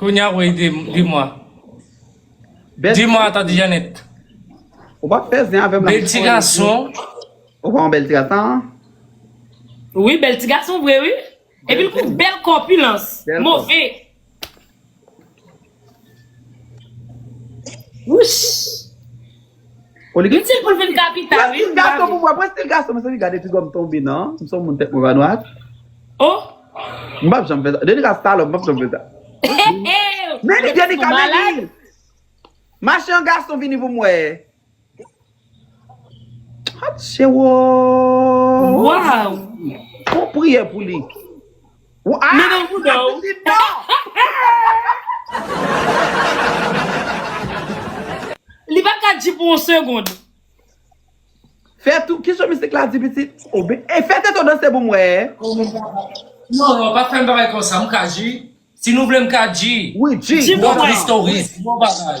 Kounya wi di mwa. Di mwa tante Janet. Ou pa fè zen avèm la. Bel ti gason. Ou pa yon bel ti gason? Wi bel ti gason vre wi. E pi l kou bel kòpilans. Move. Wouch. Itil poul vin kapita wi m pa vle. Prestil gason mezanmi gade piga m tonbe nan m son moun tèt mwen pa nwat oh m pap janm fè sa denika salòp m pap janm fè sa meli denika meli mache an gason vini pou m wè ha t chewoo waww fon priyè pou li. Ou a! Li nan Ou bouda ka w. di li non! Li pat ka di pou yon segond. Fè tou, kisa misik la di pitit? O be e fè tèt ou danse pou m wè. Non non pa fèm bagay konsa m ka G si nou vle m ka G Wi G Di pou Bon mwen. tristouris bon bagay.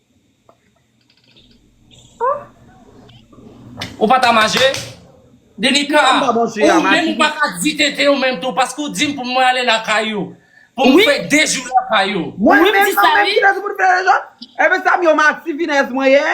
Ou pa ta maje? Denika, ou menm ou pa ka di tete ou menm tou paske ou dim pou mwen ale lakay ou. Pou mwen fè 2 jou lakay ou. Mwen menm nan menm kijan pou mwen fè 2 jou? Ebyen sa m yo ma ti finèz mwen ye?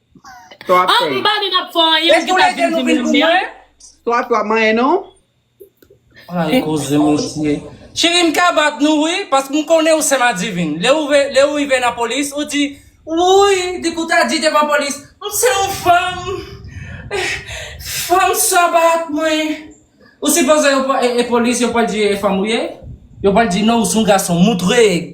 Sa wap fè? Anpil bagay nap fè anyen ou gentan ap vin di m lanmèd. Sa wap manyen non? Ay koze mesye. Cheri m ka bat nou wi pask m konnen ou se madivin. Le ou rive nan polis ou di wouyy di kou ta di devan polis m se yon fanm fanm sa bat mwen. Ou sipoze yo pran e polis yo pral di e fanm ou ye? Yo pral di non ou son gason moutre.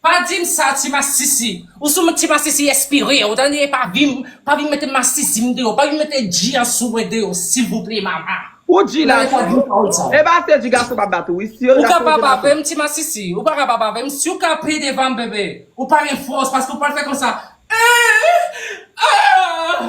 Pa dim sa ti masisi. Ou sou m ti masisi espire ou tande pa vin pa vin mete masisi m deyò pa vin mete dji an sou mwen deyò silvouplé mama. Ou di Ou la tande pa dim pawòl sa. Epa ase di gason pa bat ou wi si yo Ou ka gason pa se bat ou. bavem ti masisi ou pa ka pa bavem si ou ka pe devanm bebe ou pa gen fòs paske ou pral fè konsa eeh aah.